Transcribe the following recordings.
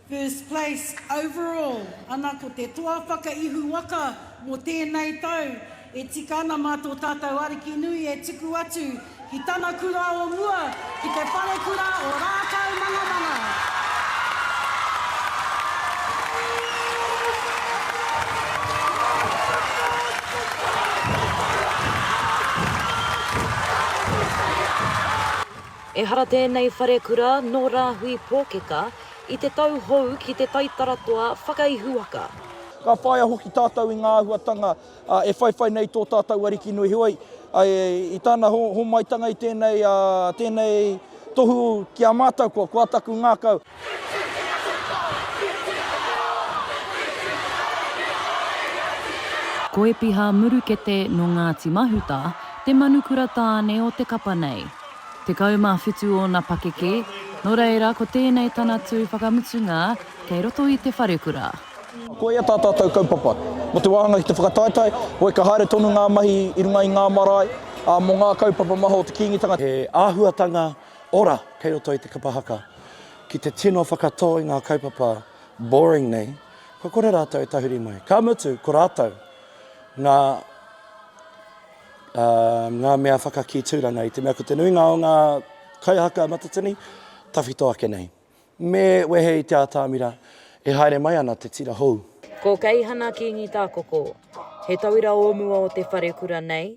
First place overall ana ko te toa whakaihu waka mo tēnei tau e tika ana mā tō tātou Ariki nui e tuku atu ki tana kura o mua ki te Wharekura o Rākaumangamanga. Ehara tēnei wharekura nō Rāhui Pōkeka i te tau hou ki te taitara toa whakaihuwaka. Ka whāia hoki tātou i ngā āhuatanga e whaiwhai nei tō tātou Ariki nui heoi, i Tana homaitanga i tēnei tohu ki a mātou, kua taku ngākau. Ko Epiha Murukete nō Ngāti Mahuta te manukura tāne o te kapa nei. Tekau mā whitu ōna pakeke, nō reira ko tēnei tana tū whakamutunga kei roto i te wharekura. Ko ia tā tātou kaupapa. Mō te wāhanga ki te whakataetae, hoi ka haere tonu ngā mahi i runga i ngā marae, ā, mō ngā kaupapa maha o te Kīngitanga. He āhuatanga Ora, kei roto i te kapa haka. Ki te tino whakatō i ngā kaupapa boring nei, kua kore rātou e tahuri mai. Ka mutu, ko rātou ngā, ā, ngā mea whakakī tūranga i te mea ko te nuinga o ngā kaihaka matatini tawhito ake nei. Me wehe i te ātamira e haere mai ana te tira hou. Ko Keihana Kīngi Tākoko, he tauira o mua o te wharekura nei,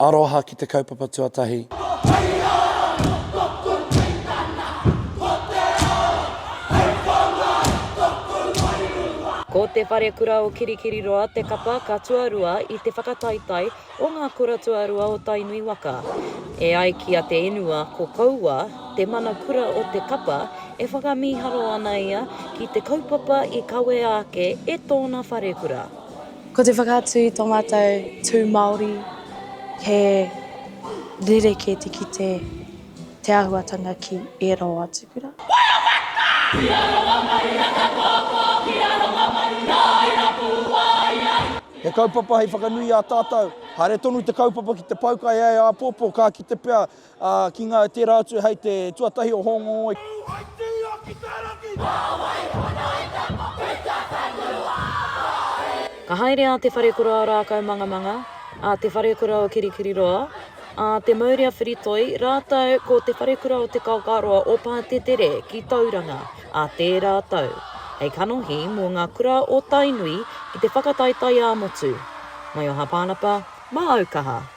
Aroha ki te kaupapa tuatahi. Ko te Wharekura o Kirikiriroa te kapa ka tuarua i te whakataetae o ngā kura tuarua o Tainui waka. E ai ki a Te Inua ko Koua te mana kura o te kapa e whakamīharo ana ia ki te kaupapa i kawea ake e tōna wharekura. Ko te whakaatu i tō mātou tū Māori, he rerekē te kite te āhuatanga ki ērā o ātu kura. He kaupapa hei whakanui i a tātou. Haere tonu te kaupapa ki te pau kai ai āpōpō, ka kite pea Ā, ki ngā e tērā atu hei te tuatahi o Hōngongoi. Waitūa ki te rangi! Nā wai pono i te moku i te whenua ā-iwi? Ka haere a Te Wharekura o Rākaumangamanga, a Te Wharekura o Kirikiriroa, a Te Mauri a Whiritoi rātou ko Te Wharekura o Te Kaokaroa o Pātetere ki Tauranga ā tērā tau, hei kanohi mō ngā kura o Tainui ki te whakataetae ā-motu. Mai o Hāpānapa, māu kaha!